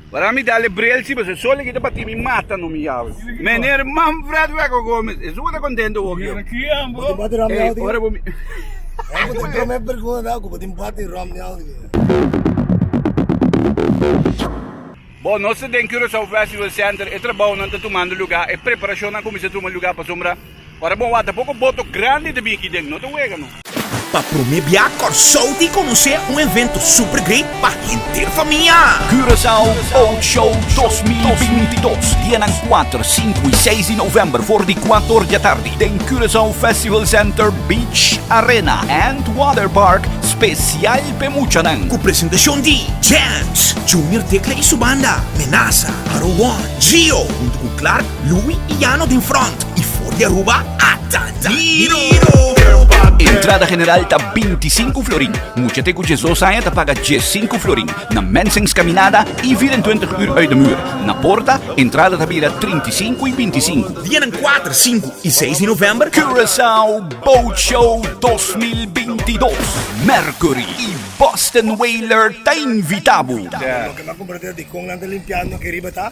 Para mi dale bril si boso solo kita pa timi mata no mi yawe meneer Manfred Weko Gomez eso ku ta contento wok yo ey ora bo mi bo nos ta den Curacao festival center e trabounan ta tumando luga e preparacionnan a cuminsa tuma luga pasobra. Ora bo wata poko boto grandi ta bini kidentu, no ta wega no. Pa prome bia Kòrsou tin konosé un evento super great pa henter famia. Curaçao Boat Show dos mil binti i dos, dianan kuater, sinku i seis di novèmber for di kuator diatardi den Curaçao Festival Center Beach Arena and Water Park spesial p'e muchanan. Ku presentashon di, Jams, Junior Tecla i su banda, Menasa, Aro One, Gio huntu ku Clark, Louis y Yano den front y for di Aruba a Dandaniro. Entrada general ta binti sinku florin. Mucha te ku djes dos aña ta paga djes sinku florin. Na Mensings kaminada i vira en twintig ur uit de muur. Na Porta, entrada ta bira trinta i sinku i binti sinku. Dianan kuater, sinku i seis di novèmber. Curaçao Boat Show dos mil binti dos, Mercury i Boston Whaler ta invitá bo. Lo ke nan comprender di kon nan ta limpiá no ke riba ta.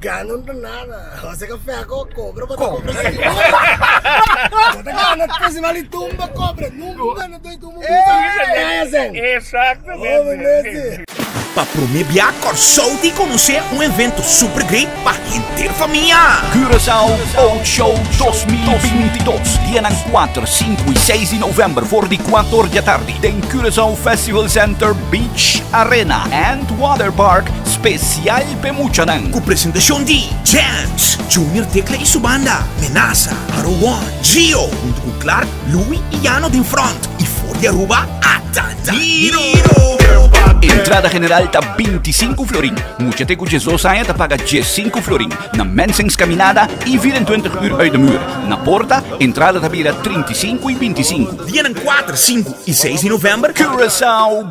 Gana un donada. Jose ka fea ko kobra bo ta kobra sin kobra. Bo ta gana festival di tumba kobra. Nunca un gana doi tumba un bita. Kaya sen. Exactamente. Obe nesi. Pa prome bia Kòrsou di konosé un evento super great pa henter famia. Curaçao Boat Show 2022 Dianan kuater, sinku i seis di novèmber for di kuat or di atardi den Curaçao Festival Center Beach Arena and Water Park spesial P'e muchanan cu presentacion di, Jams, Junior Tecla y su banda, Menaza, Haro One, Gio, hunto cu Clark, Louie y Yano den front y for di Aruba ata Diro! Entrada general ta binti sinku florin, muchate cu djes dos aña ta paga djes sinku florin, na Mensings caminada y vier en twintig uur uit de muur, na porta, entrada ta bira trinti sinku y binti sinku. Dianan kuater, sinku y seis di november, Curaçao.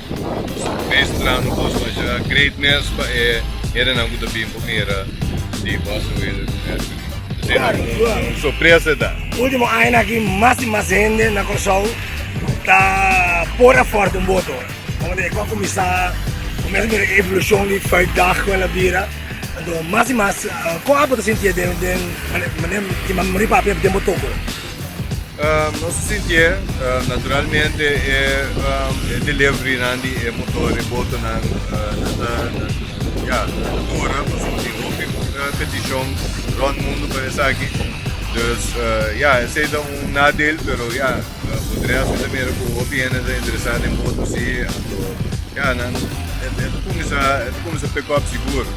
Meestra no por baja greatness pa e herennan cu ta bin por mira di Boston Whalers den National League. Esey ta un sorpresa ta. Ultimo añanan aki mas y mas hende na Curaçao ta por a forta un boto. Como ta e cu a cuminsa cuminsa mira e evolucion di Vijfdag cu el a bira. Anto mas y mas con apo ta sinti den den manera di mari papi den botoco. Nos ta sintié naturalmente e deliverynan di e motor, e botonan, nan ta, nan, ya, nan ta ora pasobra tin hopi peticion rond mundo pa esaki. Dus, ya, esei ta un nadeel, pero ya, for di rest mi ta mira cu hopi hende ta interesá den boto si, anto, ya, nan, e ta cuminsá, e ta cuminsá pick up sigur.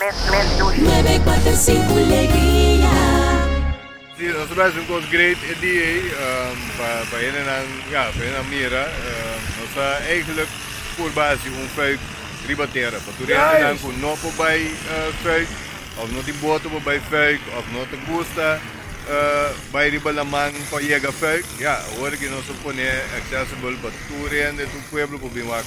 mes dushi. Si nos ta bes un cos great e dia ey pa hende nan ya pa hende nan mira nos ta eigenlijk por bay haci un fuik riba tera pa tur e hende nan cu no por bay fuik of no tin boto pa bay fuik of no ta gusta bay riba laman pa yega fuik ya awor aki nos ta pone accessible pa tur hende tur pueblo por bin wak.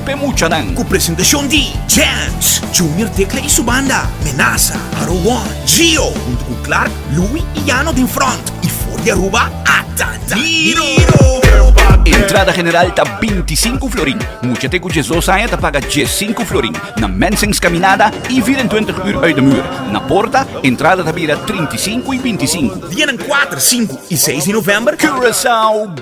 P'e muchanan cu presentacion di, Jams, Junior Tecla y su banda, Menaza, Aruwon, Gio, hunto cu Clark, Louie y Yano den front y for di Aruba a ta Daniro. Entrada general ta binti i sinku florin, mucha te cu djes dos aña ta paga djes sinku florin, na Mensings caminada y vir en twintig uur uit de muur. Na Porta, entrada ta bira trinta i sinku y binti i sinku. Dianan cuater, sinku y seis di november, Curaçao.